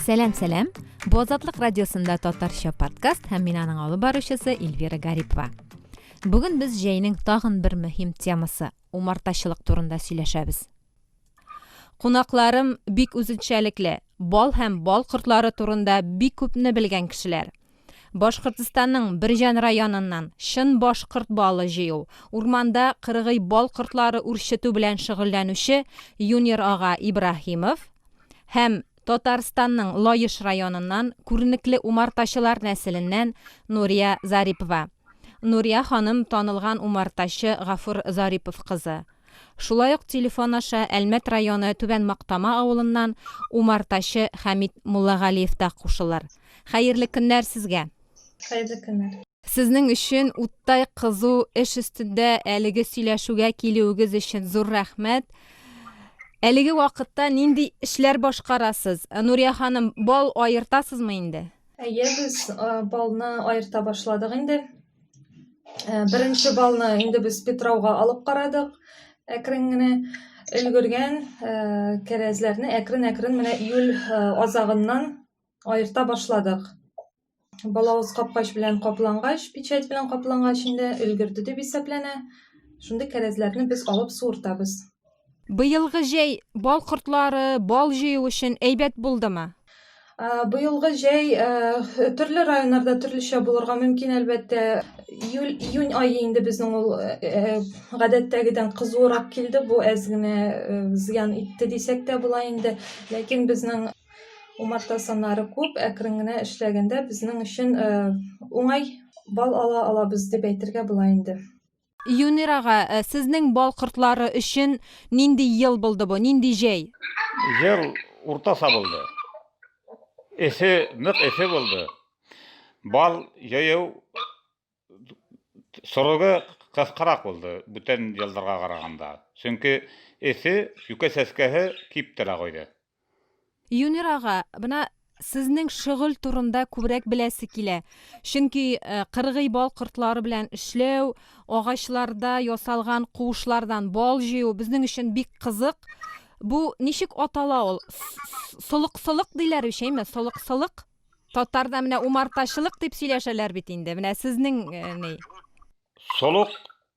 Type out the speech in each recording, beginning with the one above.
Сәлам, сәлам. Бу Азатлык радиосында татарча подкаст һәм мин аның алып баручысы Эльвира Гарипова. Бүген без җәйнең тагын бер мөһим темасы, умартачылык турында сөйләшәбез. Кунакларым бик үзенчәлекле, бал һәм бал кортлары турында бик күпне белгән кешеләр. Башкортстанның Бирҗән районыннан чын башкорт балы җыю, урманда кыргый бал кортлары үрчетү белән шөгыльләнүче Юнир ага Ибраһимов һәм Татарстанның Лаеш районыннан күренекле умартачылар нәселеннән Нурия Зарипова. Нурия ханым танылган умартачы Гафур Зарипов кызы. Шулай ук телефон аша Әлмәт районы Түбән Мактама авылыннан умартачы Хәмит Муллагалиев та кушылыр. Хәерле көннәр сезгә! Хәерле көннәр! Сезнең өчен уттай кызу эш өстендә әлеге сөйләшүгә килүегез өчен зур рәхмәт. Әлеге вакытта нинди эшләр башкарасыз? Нурия ханым, бал аертасызмы инде? Әйе, без балны аерта башладык инде. Ә, беренче балны инде без Петрауга алып карадык. Әкрен генә өлгергән ә, кәрәзләрне әкрен-әкрен менә июль ә, азагыннан аерта башладык. Балавыз капкач белән каплангач, печать белән каплангач инде өлгерде дип исәпләнә. Шундый кәрәзләрне без алып суыртабыз. Быелгы җәй бал кортлары, бал җыю өчен әйбәт булдымы? Быелгы җәй төрле районнарда төрлечә булырга мөмкин, әлбәттә. Июль, июнь ае инде безнең ул гадәттәгедән кызуырак килде. Бу әз генә зыян итте дисәк тә була инде. Ләкин безнең умарта саннары күп, әкрен генә эшләгәндә безнең өчен уңай бал ала алабыз дип әйтергә була инде. Юнир ага, сезнең бал кортлары өчен нинди ел булды бу, нинди җәй? Ел уртаса булды. Эссе, нык эссе булды. Бал җыю срогы кыскарак булды бүтән елларга караганда. Чөнки эссе, юкә чәчкәһе кип тора койды. Юнир ага, бына сезнең шөгыль турында күбрәк беләсе килә. Чөнки э, кыргый бал кортлары белән эшләү, агачларда ясалган куышлардан бал җыю безнең өчен бик кызык. Бу ничек атала ул? Солык-солык диләр бит, әйме? Солык-солык. Татарда менә умартачылык дип сөйләшәләр бит инде. Менә сезнең э, ни? Солык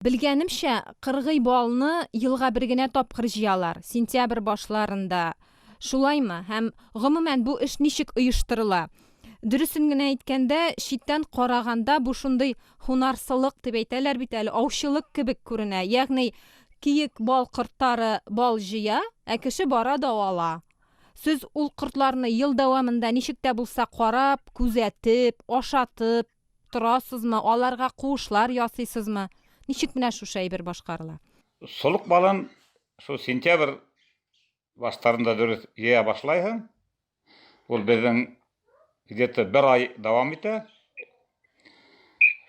Белгәнемчә, кыргый балны елга бер генә тапкыр җыялар, сентябрь башларында. Шулаймы? Һәм, гомумән, бу эш ничек оештырыла? Дөресен генә әйткәндә, читтән караганда бу шундый һунарсылык дип әйтәләр бит әле, аучылык кебек күренә. Ягъни, киек бал кортлары бал җыя, ә кеше бара да ала. Сез ул кортларны ел дәвамында ничек тә булса карап, күзәтеп, ашатып. Торасызмы, аларга куышлар ясыйсызмы? Ничек менә шушы әйбер башкарыла? Солык балын шул сентябрь баштарында дөрес җыя башлайһың. Ул безнең где-то бер ай дәвам итә.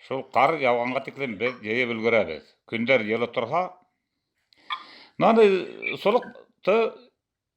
Шул кар яуганга тиклем без җыеп өлгерәбез. Көндәр җылы торһа, ну аны солыкты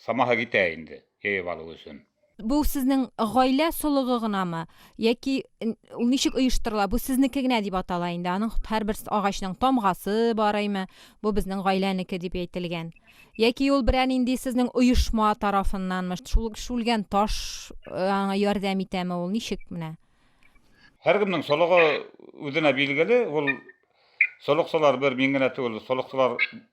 Самаһы китә инде, җыеп алу өчен. Бу сезнең гаилә солыгы гынамы? Яки ул ничек оештырыла? Бу сезнеке генә дип атала инде. Аның һәрбер агачның тамгасы бар име? Бу безнең гаиләнеке дип әйтелгән. Яки ул берәр нинди сезнең оешма тарафыннанмы? Шул шүлгән таш аңа ярдәм итәме ул? Ничек менә? Һәркемнең солыгы үзенә билгеле. Ул солыкчылар бер мин генә түгел, солыкчылар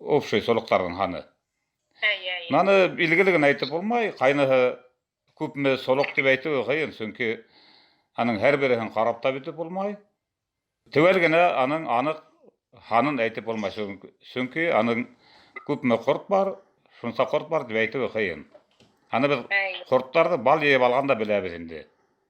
общий солыкларның ханы. Наны билгеле генә әйтеп булмай, кайныһы күпме солык дип әйтүе кыен, чөнки аның һәрберсен карап та бетеп булмай. Төгәл генә аның анык ханын әйтеп булмай, чөнки аның күпме корт бар, шунса корт бар дип әйтүе кыен. Аны без кортларны бал җыеп алганда беләбез инде.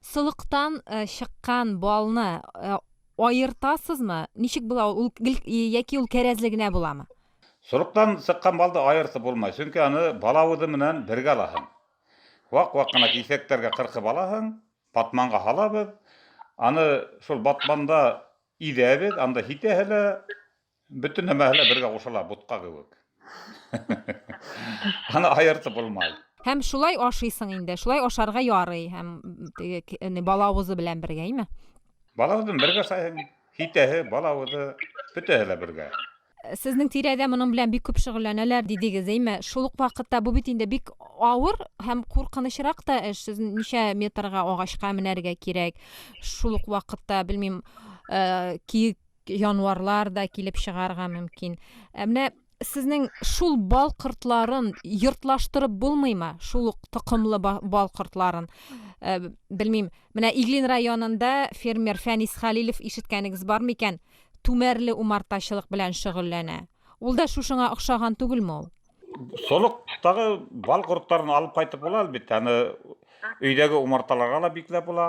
Солыктан чыккан балны аертасызмы? Ничек була ул? Ул гел яки ул кәрәзле генә буламы? Солыктан чыккан балды аертып булмый, чөнки аны бала үзе менән бергә аласың. Вак-вак кына кисәкләргә кыркып аласың, батманга һалабыз, аны шул батманда изәбез, анда һитәһе лә, Бөтен нәмә әле бергә кушыла, бутка кебек. Аны аерты булмай. Һәм шулай ашыйсың инде. Шулай ашарга ярый һәм теге э, балавызы белән бергә, име? Балавызын бергә сайын хитәһе, балавызы бөтәһе лә бергә. Э, сезнең тирәдә моның белән бик күп шөгыльләнәләр дидегез, име? Шул ук вакытта бу бит инде бик авыр һәм куркынычрак та эш. Сез ничә метрга агачка менәргә кирәк? Шул ук вакытта, белмим, э, киек январлар да килеп чыгарга мөмкин. Ә менә сезнең шул бал кортларын йортлаштырып булмыймы? Шул ук токымлы бал кортларын. Ә, белмим, менә Иглин районында фермер Фәнис Халилев ишеткәнегез бар микән? Түмәрле умартачылык белән шөгыльләнә. Ул да шушыңа охшаган түгелме ул? Солыктагы бал кортларын алып кайтып була, әлбәттә. Аны өйдәге умарталарга да бикләп була.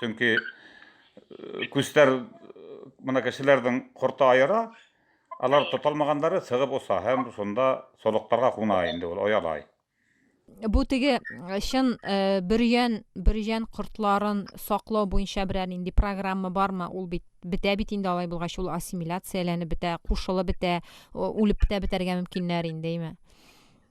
Чөнки э, күстәр э, моны кешеләрнең корты аера, алар тоталмаганнары сыгып оса һәм шунда солыктарга куна инде ул оялай. Бу теге э, чын бөрьән бөрьән кортларын саклау буенча берәр нинди программа бармы? Ул бит бетә бит инде алай булгач ул ассимиляцияләнеп бетә, кушылып бетә, үлеп бетә бетәргә мөмкиннәр инде, әйме?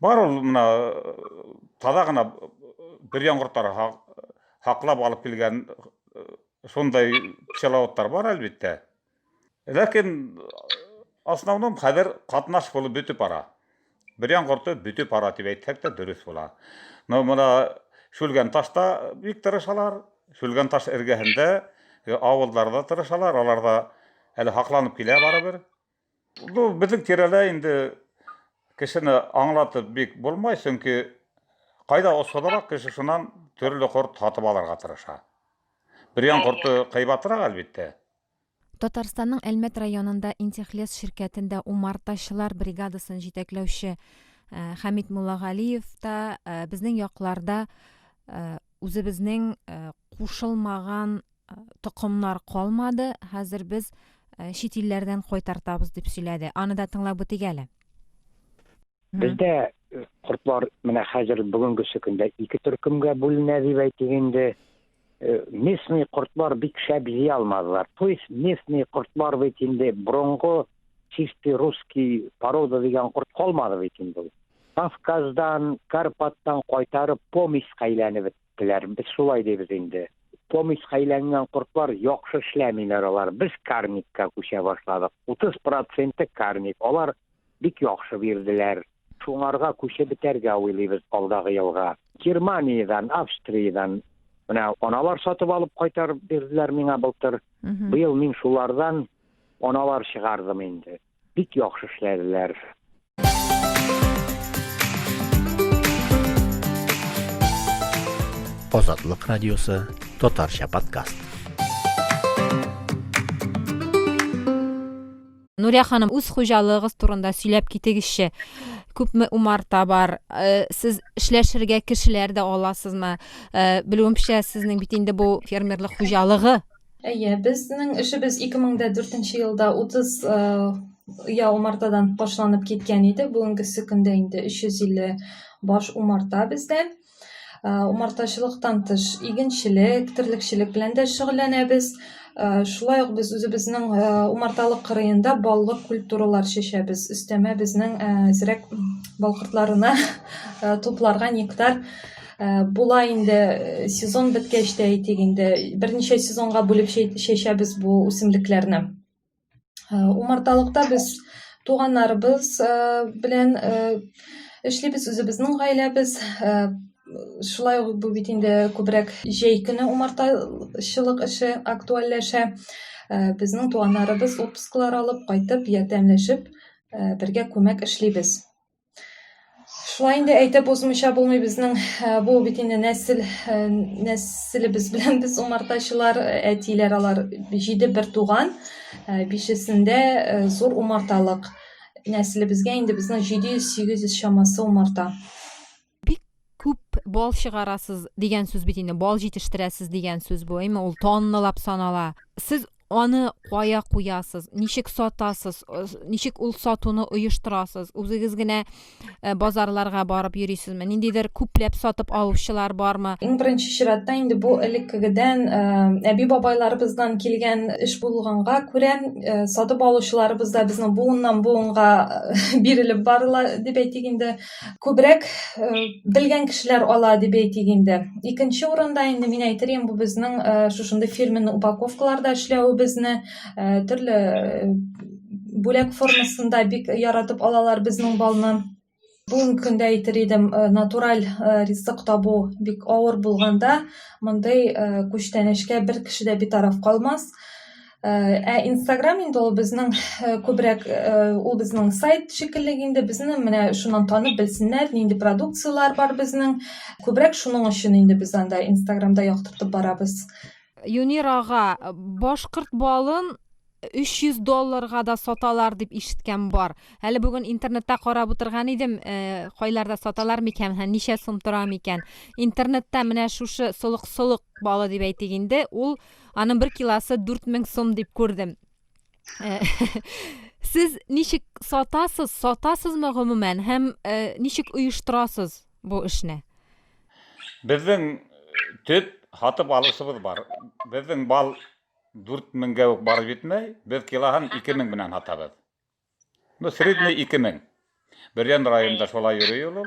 Бар ул менә таза гына бер яңгыртар хаклап алып килгән шундай пчеловодтар бар әлбиттә. Ләкин основном хәзер катнаш булып бөтү пара. Бер яңгырты бөтү пара дип әйтсәк тә дөрес була. Но менә шүлгән ташта бик тырышалар. Шүлгән таш эргәһендә авылларда тырышалар, аларда әле хакланып килә барыбер. Ну, безнең тирәлә инде кешене аңлатып бик булмай, чөнки кайда осалрак кеше шуннан төрле корт һатып алырга тырыша. Бөрьян корты кыйбатрак, әлбиттә. Татарстанның Әлмәт районында Интехлес ширкәтендә умартачылар бригадасын җитәкләүче Хәмит Муллагалиев та безнең якларда үзебезнең кушылмаган токымнар калмады, хәзер без чит илләрдән кайтартабыз дип сөйләде. Аны да тыңлап үтик әле. Бездә кортлар менә хәзер бүгенгесе көндә ике төркемгә бүленә дип әйтик инде. Местный кортлар бик шәп җи алмадылар. То есть местный кортлар бит инде борынгы чистый русский порода дигән корт калмады бит инде. Кавказдан, Карпаттан кайтарып помеська әйләнеп беттеләр. Без шулай дибез инде. Помеська әйләнгән кортлар яхшы эшләмиләр алар. Без карникка күчә башладык. 30 проценты карник. Алар бик яхшы бирделәр. Шуңарга күчеп бетәргә уйлыйбыз алдагы елга. Германиядән, Австриядән менә аналар сатып алып кайтарып бирделәр миңа былтыр. Быел мин шулардан аналар чыгардым инде. Бик яхшы эшләделәр. Азатлык радиосы, татарча подкаст. Нурия ханым, үз хуҗалыгыгыз турында сөйләп китегезче. Күпме умарта бар? Э, сез эшләшергә кешеләр дә аласызмы? Э, Белүемчә, сезнең бит инде бу фермерлык хуҗалыгы Әйе, безнең эшебез 2004 елда 30 оя умартадан башланып киткән иде. Бүгенгесе көндә инде 350 баш умарта бездә. Умартачылыктан тыш игенчелек, терлекчелек белән дә шөгыльләнәбез. Шулай ук без үзебезнең умарталык кырыенда баллы культуралар чәчәбез. Өстәмә безнең зирәк балкыртларына тупларга нектар Э, була инде э, сезон беткәч тә әйтик инде берничә сезонга бүлеп чәчәбез бу үсемлекләрне э, умарталыкта без туганнарыбыз белән эшлибез үзебезнең гаиләбез шулай ук бу бит инде күбрәк җәй көне умартачылык эше актуальләшә безнең туганнарыбыз отпусклар алып кайтып ярдәмләшеп бергә күмәк эшлибез Шулай инде әйтеп узмыйча булмый безнең бу бит инде нәсел нәселебез белән без умартачылар әтиләр алар җиде бер туган бишесендә зур умарталык нәселебезгә инде безнең 700-800 чамасы умарта бик күп бал чыгарасыз дигән сүз бит инде бал җитештерәсез дигән сүз бу әйме ул тонналап санала сез аны кая куясыз ничек сатасыз э, ничек ул сатуны оештырасыз үзегез генә э, базарларга барып йөрисезме ниндидер күпләп сатып алучылар бармы иң беренче чиратта инде бу элеккегедән э, әби бабайларыбыздан килгән эш булганга күрә сатып алучыларыбыз да безнең буыннан буынга бирелеп барыла дип әйтик инде Күбрәк э, белгән кешеләр ала дип әйтик инде. Икенче урында инде мин әйтерем бу безнең э, шушындый фирменный упаковкаларда эшләвебезне, э, төрле бүләк формасында бик яратып алалар безнең балны. Бүгенге көндә әйтер идем, натураль ризык табу бик авыр булганда, мондый күчтәнәчкә бер кеше дә битараф калмас. Ә Instagram инде ул безнең күбрәк ул безнең сайт шикелле инде безне менә шуннан танып белсеннәр, нинди продукцияләр бар безнең. Күбрәк шуның өчен инде без анда Инстаграмда яктыртып барабыз. Юнир ага, башкорт балын 300 долларга да саталар дип ишеткән бар. Әле бүген интернетта карап утырган идем, э, кайларда саталар микән һәм ничә сум тора микән. Интернетта менә шушы солык-солык балы дип әйтик инде, ул Аның бер киласы 4000 сум дип күрдем. Э, сез ничек сатасыз, сатасызмы гомумән һәм э, ничек оештырасыз бу эшне? Безнең э, төп һатып алушыбыз бар. Безнең бал 4000гә үк барып җитмәй, без килоһын 2000 белән һатабыз. Ну, средний 2000. Бөрьян районында шулай йөри ул.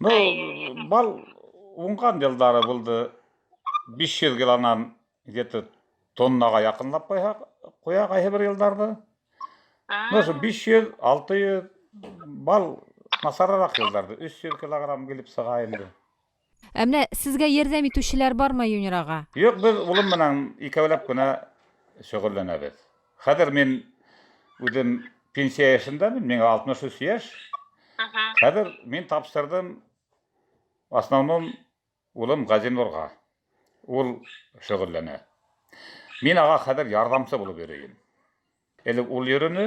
Ну, бал уңган елдары булды. 500 килонан где-то тоннага якынлап куя, куя кайсы бер елларда. Ну, 500, 600 бал насарарак елларда 300 килограмм килеп сыга инде. Ә менә сезгә ярдәм итүчеләр бармы, Юнирага? Юк, без улым белән икәүләп кенә шөгыльләнәбез. Хәзер мин үзем пенсия яшендәмен, миңа 63 яшь. Хәзер мин тапшырдым в основном улым Газинурга. Ул шөгыльләнә. Мин ага хәзер ярдәмче булып йөрим. Элек ул йөрүне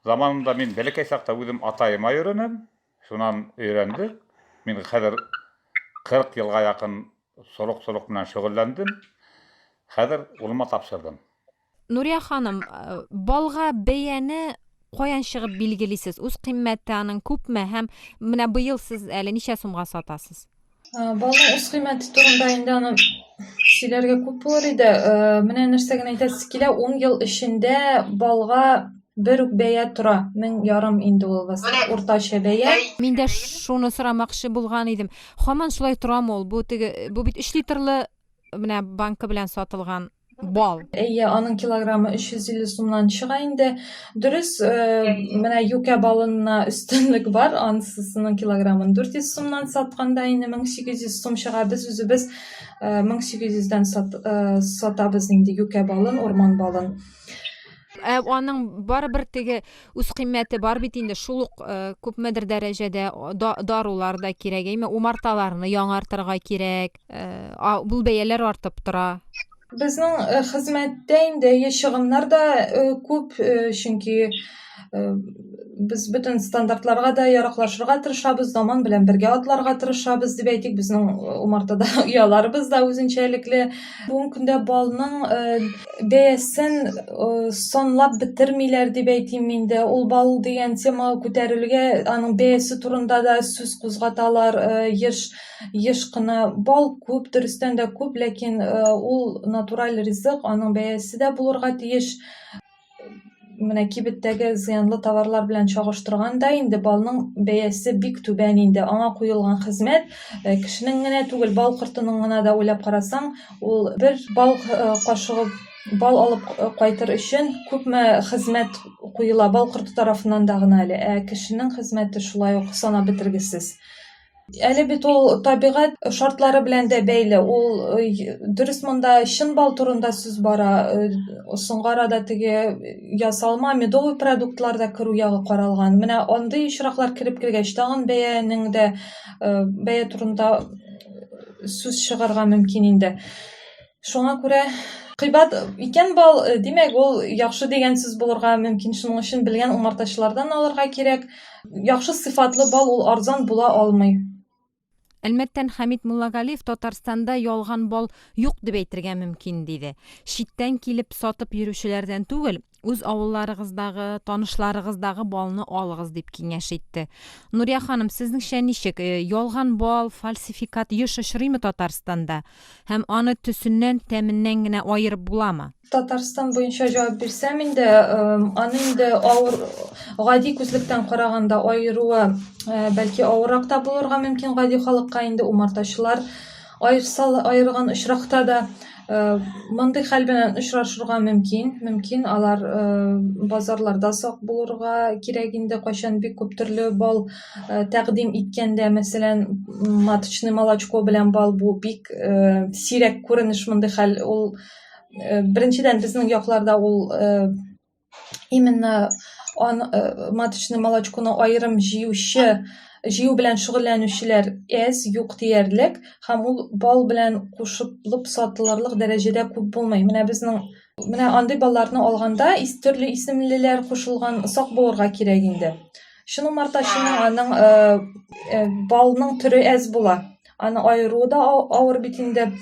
заманында мин бәләкәй чакта үзем атаема йөренем, шуннан өйрәндек. Мин хәзер 40 елга якын солык-солык белән шөгыльләндем. Хәзер улыма тапшырдым. Нурия ханым, э, балга бәяне каян чыгып билгелисез? Үз кыйммәте аның күпме һәм менә быел сез әле ничә сумга сатасыз? Э, балның үз кыйммәте турында инде аны сөйләргә күп булыр иде. Э, менә нәрсә генә әйтәсе килә, 10 ел эчендә балга бер үк бәя тора мең ярым инде ул вас уртача бәя мин дә шуны сорамакчы булган идем хаман шулай торамы ул бу теге бу бит өч литрлы менә банка белән сатылган бал. Әйе, аның килограммы 350 сумнан чыга инде. Дөрес, э, менә юкә балынына өстенлек бар, ансысының килограммын 400 сумнан сатканда инде 1800 сум чыга. Без үзебез 1800-дән э, э, сатабыз инде юкә балын, урман балын. Ә аның барыбер теге үз кыйммәте бар бит инде шул ук күпмедер дәрәҗәдә дарулар да кирәк әйме умарталарны яңартырга кирәк бул бәяләр артып тора безнең э, хезмәттә инде чыгымнар да э, күп э, чөнки без бөтен стандартларга да яраклашырга тырышабыз заман белән бергә атларга тырышабыз дип әйтик безнең умартада ояларыбыз да үзенчәлекле бүгенге көндә балның бәясен санлап бетермиләр дип әйтим инде ул бал дигән тема күтәрелгә аның бәясе турында да сүз кузгаталар еш еш кына бал күп дөрестән дә күп ләкин ул натураль ризык аның бәясе дә булырга тиеш менә кибеттәге зыянлы товарлар белән чагыштырганда инде балның бәясе бик түбән инде аңа куелган хезмәт э, кешенең генә түгел бал кортының гына да уйлап карасаң ул бер бал э, кашыгы бал алып э, кайтыр өчен күпме хезмәт куела бал корты тарафыннан да гына әле ә кешенең хезмәте шулай ук санап бетергесез Әле бит ул табигать шартлары белән дә бәйле. Ул э, дөрес монда чын бал турында сүз бара. Э, соңгы арада теге ясалма медовый продуктлар да керү ягы каралган. Менә андый очраклар кереп кергәч, тагын бәянең дә э, бәя турында сүз чыгарга мөмкин инде. Шуңа күрә кыйбат икән бал, э, димәк, ул яхшы дигән сүз булырга мөмкин. Шуның өчен белгән умартачылардан алырга кирәк. Яхшы сыйфатлы бал ул арзан була алмый. Әлмәттән Хәмит Муллагалиев Татарстанда ялган бал юк дип әйтергә мөмкин, диде. Читтән килеп сатып йөрүчеләрдән түгел, үз авылларыгыздагы, танышларыгыздагы балны алыгыз дип киңәш итте. Нурия ханым, сезнеңчә ничек? Э, ялган бал, фальсификат еш очрыймы Татарстанда? Һәм аны төсеннән, тәменнән генә аерып буламы? Татарстан буенча җавап бирсәм инде, э, аны инде авыр гади күзлектән караганда аеруы э, бәлки авыррак та булырга мөмкин гади халыкка инде умартачылар Аерсалы аерган очракта да мондый хәл белән очрашырга мөмкин. Мөмкин алар базарларда сак булырга кирәк инде, кайчан бик күп төрле бал тәкъдим иткәндә, мәсәлән, маточный молочко белән бал бу бик сирәк күренеш мондый хәл. Ул беренчедән безнең якларда ул именно э, маточный молочконы аерым җыючы җыю белән шөгыльләнүчеләр әз юк диярлек һәм ул бал белән кушылып сатылырлык дәрәҗәдә күп булмый менә безнең менә андый балларны алганда ис төрле исемлеләр кушылган сак булырга кирәк инде чын умартачының аның э, э, балның төре әз була аны аеру да авыр бит инде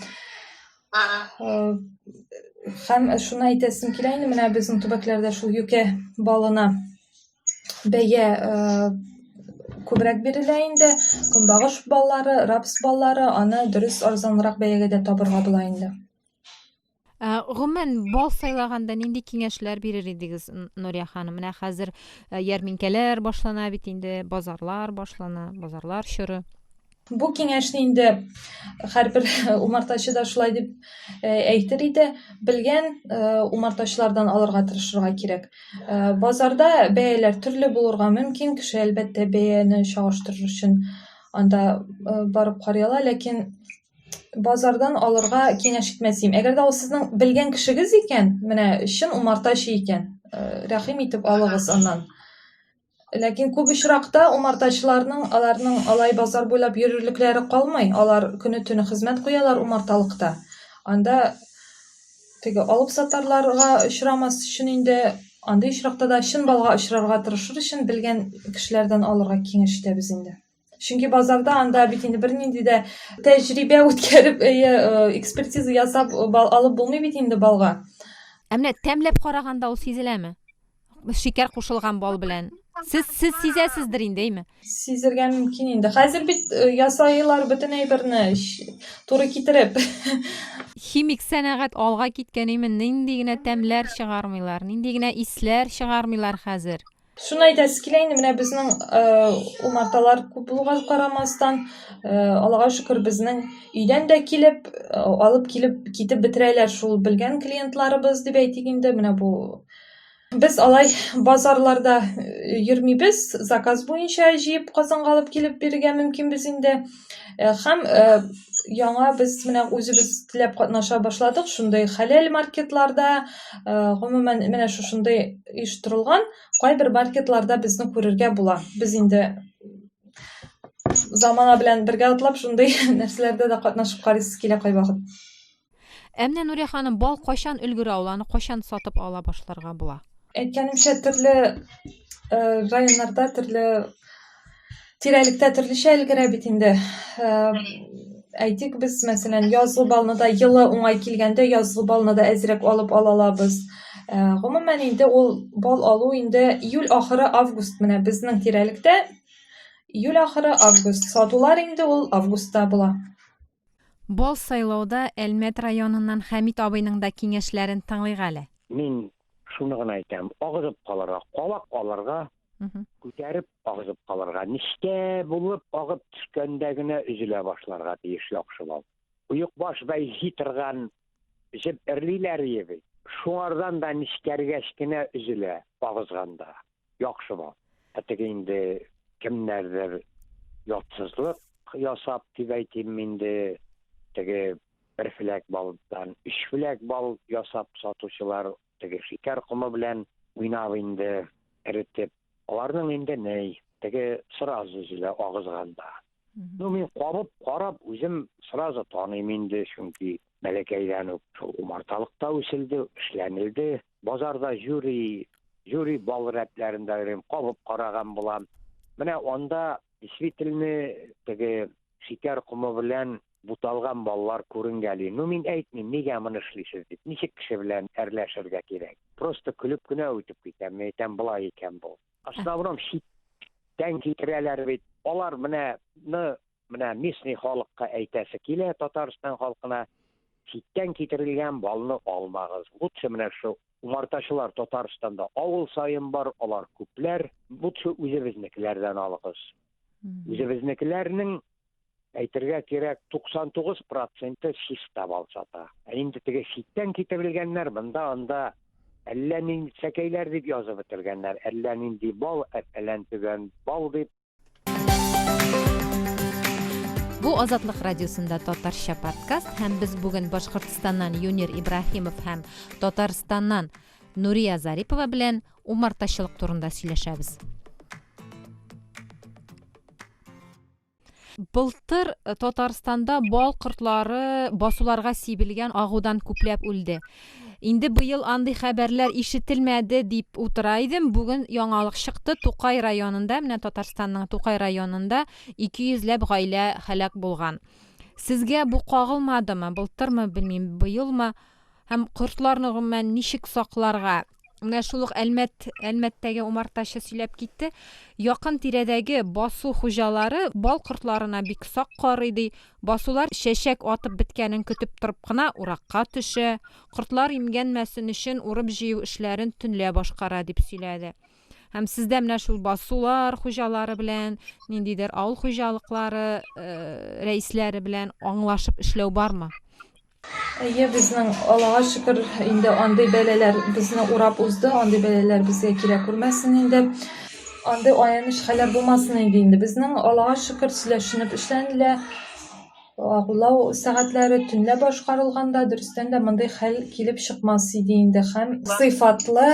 Һәм шуны әйтәсем килә инде, менә безнең төбәкләрдә шул юкә балына бәя күбрәк бирелә инде. Көнбагыш баллары, рапс баллары, аны дөрес арзанрак бәягә дә табырга була инде. Ә, гомумән, бал сайлаганда нинди киңәшләр бирер идегез, Нурия ханым? Менә хәзер ярминкәләр башлана бит инде, базарлар башлана, базарлар чоры. Бу киңәшне инде һәрбер умартачы да шулай дип э, әйтер иде, белгән э, умартачылардан алырга тырышырга кирәк. Э, базарда бәяләр төрле булырга мөмкин, кеше әлбәттә бәяне чагыштырыр өчен анда барып карый ала, ләкин базардан алырга киңәш итмәс идем. Әгәр дә ул сезнең белгән кешегез икән, менә чын умартачы икән, рәхим итеп алыгыз аннан. Ләкин күп очракта умартачыларның аларның алай базар буйлап йөрерлекләре калмый. Алар көне төне хезмәт куялар умарталыкта. Анда теге алып сатарларга очрамас өчен инде андый очракта да чын балга очрарга тырышыр өчен белгән кешеләрдән алырга киңәш итәбез инде. Чөнки базарда анда бит инде бернинди дә тәҗрибә үткәреп, экспертиза ясап алып булмый бит инде балга. Ә менә тәмләп караганда ул сизеләме? Шикәр кушылган бал белән. Сез сез сизәсездер инде, әйме? Сизергә мөмкин инде. Хәзер бит ясайлар бөтен әйберне туры китереп. Химик сәнәгать алга киткән әйме? Нинди генә тәмләр чыгармыйлар, нинди генә исләр чыгармыйлар хәзер. Шуны әйтәсе килә инде, менә безнең э, умарталар күп булуга карамастан, э, Аллага шөкер, безнең өйдән дә килеп, э, алып килеп, китеп бетерәләр шул белгән клиентларыбыз дип әйтик инде, менә бу Без алай базарларда йөрмибез, заказ буенча җыеп Казанга алып килеп бирергә мөмкинбез инде. Э, һәм э, яңа без менә үзебез теләп катнаша башладык шундый хәләл маркетларда э, гомумән менә шушындый оештырылган кайбер маркетларда безне күрергә була без инде замана белән бергә атлап шундый нәрсәләрдә дә катнашып карыйсы килә кайвакыт Ә менә Нурия ханым, бал кайчан өлгерә ул, аны кайчан сатып ала башларга була? Әйткәнемчә, төрле районнарда, төрле тирәлектә төрлечә өлгерә бит инде. Әйтик, без, мәсәлән, язгы балны да елы уңай килгәндә, язгы балны да әзрәк алып алалабыз. Гомумән инде ул бал алу инде июль ахыры, август менә безнең тирәлектә июль ахыры, август сатулар инде ул августта була. Бал сайлауда Әлмәт районыннан Хәмит абыйның да киңәшләрен тыңлыйк әле. Мин шуны гына әйтәм, агызып калырга, калак алырга, күтәреп агызып калырга, нечкә булып агып төшкәндә генә өзелә башларга тиеш яхшы бал. Оекбаш бай җи торган җеп эрлиләр ие бит, шуңардан да нечкәргәч кенә өзелә агызганда. Яхшыма. Ә теге инде кемнәрдер ятсызлык ясап дип әйтим инде, теге бер филәк балдан өч филәк бал ясап сатучылар теге шикәр комы белән уйнап инде эретеп. Аларның инде ни, теге сразу өзелә агызганда. Ну, мин кабып, карап, үзем сразу таныйм инде, чөнки Бәләкәйдән үк шул умарталыкта үселде, эшләнелде. Базарда җюри, җюри бал рәтләрен дә йөрим, кабып караган булам. Менә анда действительно теге шикәр комы белән буталган баллар күренгәли. Ну мин әйтмим, нигә моны эшлисез дип. Ничек кеше белән әрләшергә кирәк? Просто көлеп кенә үтеп китәм. Мин әйтәм, былай икән бу. Основном читтән китерәләр бит. Алар менә Менә местный халыкка әйтәсе килә Татарстан халкына, читтән китерелгән балны алмагыз. Лучше менә шул умартачылар Татарстанда авыл саен бар, алар күпләр. Лучше үзебезнекеләрдән алыгыз. Үзебезнекеләрнең әйтергә кирәк 99 проценты чиста бал сата. Ә инде теге читтән китерелгәннәр монда анда әллә нинди сәкәйләр дип язып бетергәннәр, әллә нинди бал, әллә төгән бал дип Бу Азатлык радиосында татарча подкаст һәм без бүген Башкортстаннан Юнир Ибраһимов һәм Татарстаннан Нурия Зарипова белән умартачылык турында сөйләшәбез. Былтыр э, Татарстанда бал кортлары басуларга сибелгән агудан күпләп үлде. Инде быел андый хәбәрләр ишетелмәде дип утыра идем, бүген яңалык чыкты, Тукай районында, менә Татарстанның Тукай районында 200 ләп гаилә һәлак булган. Сезгә бу кагылмадымы, былтырмы, белмим, быелмы? Һәм кортларны гомумән ничек сакларга? Менә шул ук Әлмәт, Әлмәттәге умартачы сөйләп китте. Якын тирәдәге басу хуҗалары бал кортларына бик сак карый ди. Басулар чәчәк атып беткәнен көтеп торып кына уракка төшә, кортлар имгәнмәсен өчен урып-җыю эшләрен төнлә башкара, дип сөйләде. Һәм сездә менә шул басулар хуҗалары белән, ниндидер авыл хуҗалыклары рәисләре белән аңлашып эшләү бармы? Әйе, безнең Аллага шөкер, инде андый бәләләр безне урап узды, андый бәләләр безгә килә күрмәсен инде. Андый аяныч хәлләр булмасын инде инде. Безнең Аллага шөкер, сөйләшенеп эшләнелә. Агулау сәгатьләре төнлә башкарылганда, дөрестән дә мондый хәл килеп чыкмас иде инде һәм сыйфатлы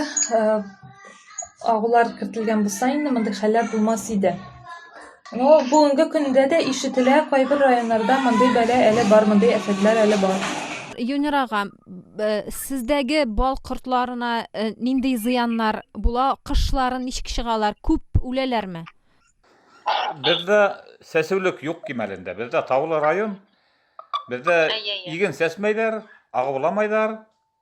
агулар кертелгән булса инде мондый хәлләр булмас иде. Но бүгенге көндә дә ишетелә, кайбер районнарда мондый бәла әле бар, мондый әфәтләр әле бар. Юнер ага, сездәге бал кортларына э, нинди зыяннар була? Кышлары ничек чыгалар? Күп үләләрме? Бездә сәсүлек юк кимәлендә. Бездә таулы район. Бездә иген сәсмәйләр, агуламайлар.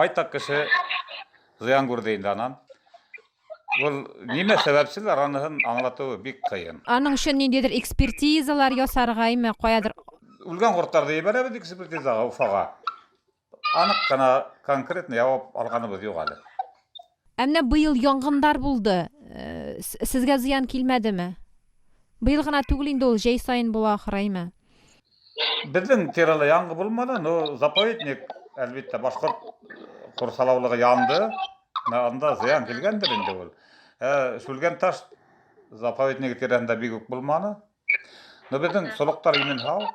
Байтак кеше зыян күрде инде анан. Ул нимә сәбәпчеләр аныһын аңлатуы бик кыен. Аның өчен ниндидер экспертизалар ясаргаймы, каядыр? Үлгән кортларны ебәрәбез экспертизага Уфага. Анык кына конкретный явап алганыбыз юк әле. Ә менә быел янгындар булды. Сезгә зыян килмәдеме? Быел гына түгел инде ул, җәй саен була ахыраймы? Безнең тирәле яңгы булмады, но заповедник, әлбәттә, башкорт курсалаулыгы янды. Анда зыян килгәндер инде ул. Ә Шүлгән таш заповедник тирәсендә бик үк булманы. Но безнең солыктар имен һау.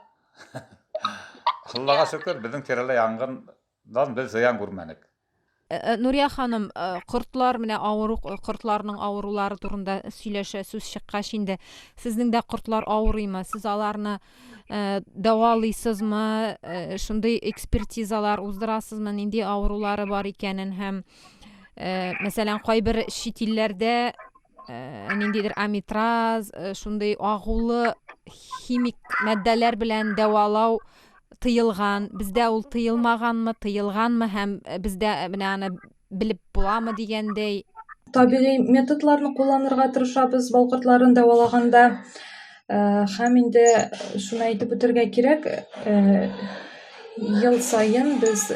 Аллага шөкер, безнең тирәле янгын Дан без зыян күрмәдек. Нурия ханым, кортлар менә авыру кортларның авырулары турында сөйләшә сүз чыккач инде, сезнең дә кортлар авырыймы? Сез аларны дәвалыйсызмы? Шундый экспертизалар уздырасызмы, нинди авырулары бар икәнен һәм мәсәлән, кайбер чит илләрдә Э, ниндидер амитраз э, шундый агулы химик маддалар белән дәвалау тыелган бездә ул тыелмаганмы тыелганмы һәм э, бездә менә аны белеп буламы дигәндәй табигый методларны кулланырга тырышабыз бал кортларын дәвалаганда Һәм инде шуны әйтеп үтәргә кирәк, ел саен без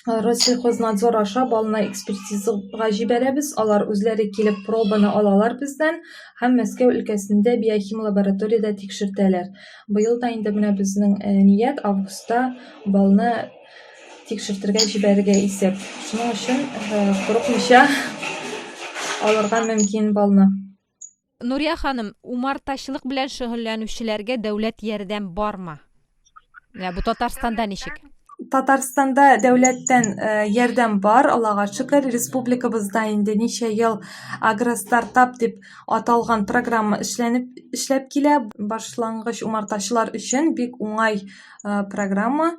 Россельхознадзор аша балны экспертизага җибәрәбез, алар үзләре килеп пробаны алалар бездән һәм Мәскәү өлкәсендә биохим лабораториядә тикшертәләр. Быел да инде менә безнең ният августта балны тикшертергә җибәрергә исәп. Шуның өчен курыкмыйча алырга мөмкин балны. Нурия ханым, умартачылык белән шөгыльләнүчеләргә дәүләт ярдәм бармы? Менә бу Татарстанда ничек? Татарстанда дәүләттән э, ярдәм бар, Аллага шөкер. Республикабызда инде ничә ел агростартап дип аталган программа эшләнеп эшләп килә. Башлангыч умартачылар өчен бик уңай э, программа.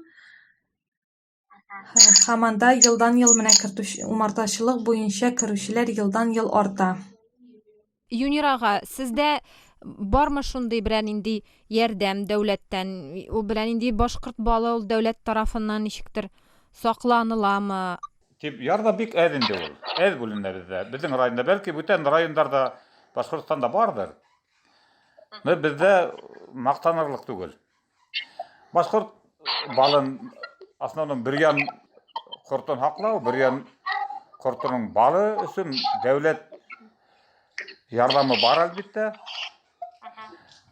Хаманда елдан-ел менә умартачылык буенча керүчеләр елдан-ел арта. Юнир ага, сездә бармы шундый берәр нинди ярдәм дәүләттән? Ул берәр нинди башкорт балы ул дәүләт тарафыннан ничектер сакланыламы? Дип, ярдәм бик әз инде ул. Әз бүленә бездә. Безнең районда, бәлки бүтән районнарда, Башкортстанда бардыр. Но бездә мактанырлык түгел. Башкорт балын основном бер ян кортын хаклау, бер ян кортының балы өчен дәүләт ярдәме бар әлбәттә.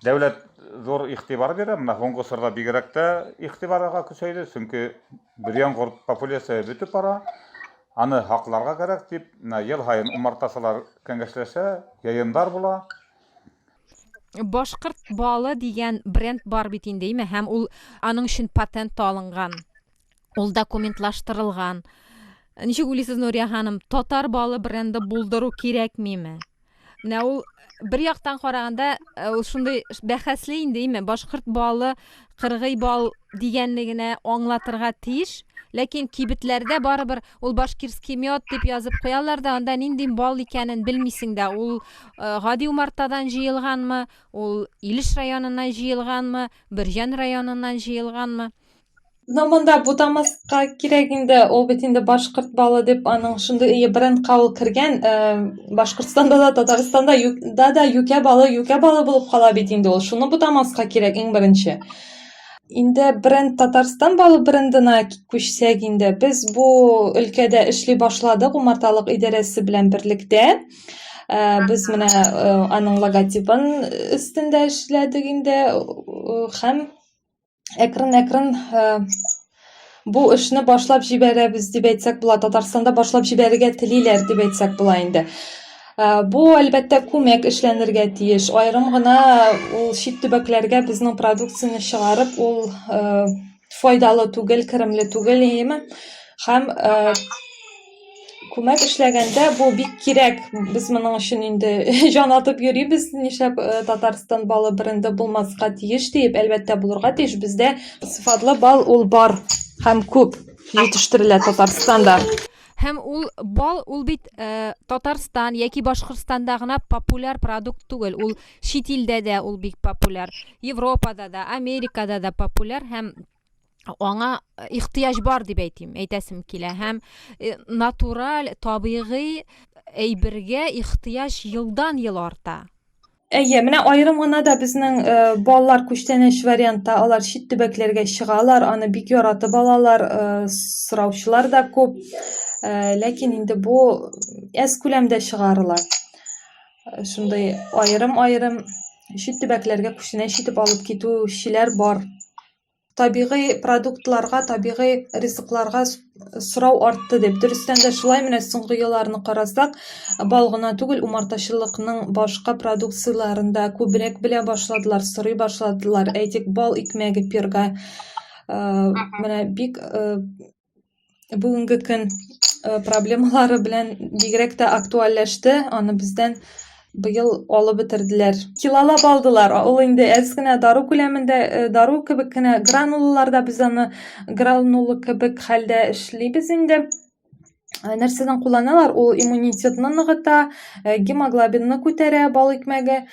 Дәүләт зур игътибар бирә, менә соңгы сырда бигрәк тә игътибарга көчәйде, чөнки бер ян корт популяция бетеп бара. Аны хакларга кирәк дип, менә ел һаен умартасылар кәңәшләшә, яендар була. Башкорт балы дигән бренд бар бит инде, име? Һәм ул аның өчен патент та алынган. Ул документлаштырылган. Ничек уйлыйсыз, Нурия ханым, татар балы бренды булдыру кирәкмиме? Менә ул бер яктан караганда э, ул шундый бәхәсле инде, име? Башкорт балы Кыргый бал дигәнне генә аңлатырга тиеш, ләкин кибетләрдә барыбер ул башкирский мед дип язып куялар да, анда нинди бал икәнен белмисең дә, ул гади умартадан җыелганмы, ул Илеш районыннан җыелганмы, Бөрҗән районыннан җыелганмы. Но монда бутамас Ка кирәк инде, ул бит инде башкорт балы дип аның шундый ие брендка ул кергән. Э, Башкортстанда да, Татарстанда ю- да да юкә балы, юкә балы булып кала бит инде ул. Шуны бутамаска кирәк иң беренче. Инде бренд Татарстан балы брендына күчсәк инде, без бу өлкәдә эшли башладык умарталык идарәсе белән берлектә. Э, Без менә э, аның логотипын өстендә эшләдек инде э, һәм әкрен-әкрен бу эшне башлап җибәрәбез дип әйтсәк була татарстанда башлап җибәрергә телиләр дип әйтсәк була инде бу әлбәттә күмәк эшләнергә тиеш аерым гына ул чит төбәкләргә безнең продукцияне чыгарып ул файдалы түгел керемле түгел яме һәм Күмәк эшләгәндә бу бик кирәк. Без моның өчен инде җан атып йөрибез, нишләп э, Татарстан балы бренды булмаска тиеш диеп, әлбәттә булырга тиеш. Бездә сыйфатлы бал ул бар һәм күп җитештерелә Татарстанда. Һәм ул бал ул бит э, Татарстан яки Башкортстанда гына популяр продукт түгел. Ул чит илдә дә ул бик популяр. Европада да, Америкада да популяр һәм аңа э, ихтыяҗ бар дип әйтим әйтәсем килә һәм э, натураль табигый әйбергә ихтыяҗ елдан ел арта әйе менә аерым гына да безнең э, балалар күчтәнәч вариантта алар чит төбәкләргә чыгалар аны бик яратып алалар сораучылар да күп ләкин инде бу әз күләмдә чыгарыла шундый аерым аерым чит төбәкләргә күчтәнәч итеп алып китүчеләр бар табигый продуктларга табигый ризыкларга сорау артты дип дөрестән дә шулай менә соңгы елларны карасак бал гына түгел умартачылыкның башка продукцияләрен дә күбрәк белә башладылар сорый башладылар әйтик бал икмәге пирога э, менә бик э, бүгенге көн э, проблемалары белән бигрәк тә актуальләште. Аны бездән быел алып бетерделәр. Килалап алдылар. Ул инде әз генә дару күләмендә, э, дару кебек кенә гранулаларда без аны гранула кебек хәлдә эшлибез инде. Э, нәрсәдән кулланалар? Ул иммунитетны ныгыта, гемоглобинны күтәрә бал икмәге.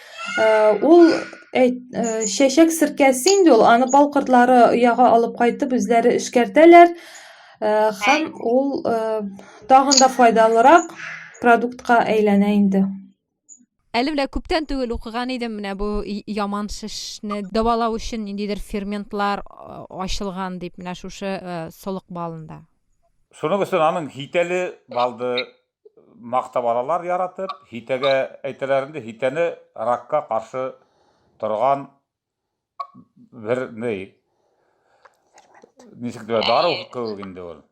Ул әйт, чәчәк серкәсе инде ул, аны бал кортлары ояга алып кайтып үзләре эшкәртәләр һәм ул тагын да файдалырак продуктка әйләнә инде. Әле менә күптән түгел укыган идем менә бу яман шешне дәвалау өчен ниндидер ферментлар ачылган дип менә шушы солык балында. Шуның өчен аның хитәле балды мактап алалар яратып, һитәгә әйтәләр инде, һитәне ракка каршы торган бер ни. Ничек дә дару кебек инде ул.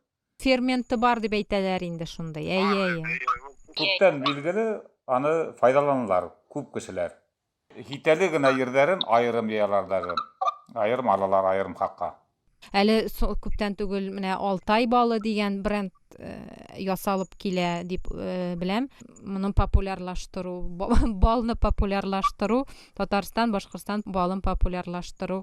Ферменты бар дип әйтәләр инде шундый. Әйе, әйе. Күптән билгеле, аны файдаланалар күп кешеләр. Хитәле генә йирдәрен аерым йыялар даже. Аерым алалар аерым хакка. Әле со күптән түгел менә Алтай балы дигән бренд ясалып килә дип беләм. Моны популярлаштыру, балны популярлаштыру, Татарстан, Башкортстан балын популярлаштыру.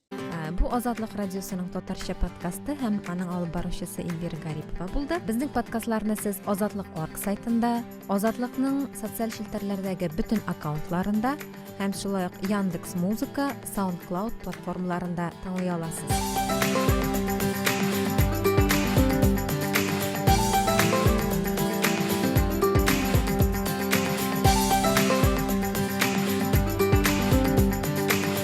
Бу Азатлык радиосының татарча подкасты һәм аның алып баручысы Эльвира Гарипова булды. Безнең подкастларны сез Азатлык орг сайтында, Азатлыкның социаль челтәрләрдәге бөтен аккаунтларында һәм шулай ук Яндекс Музыка, SoundCloud платформаларында тыңлый аласыз.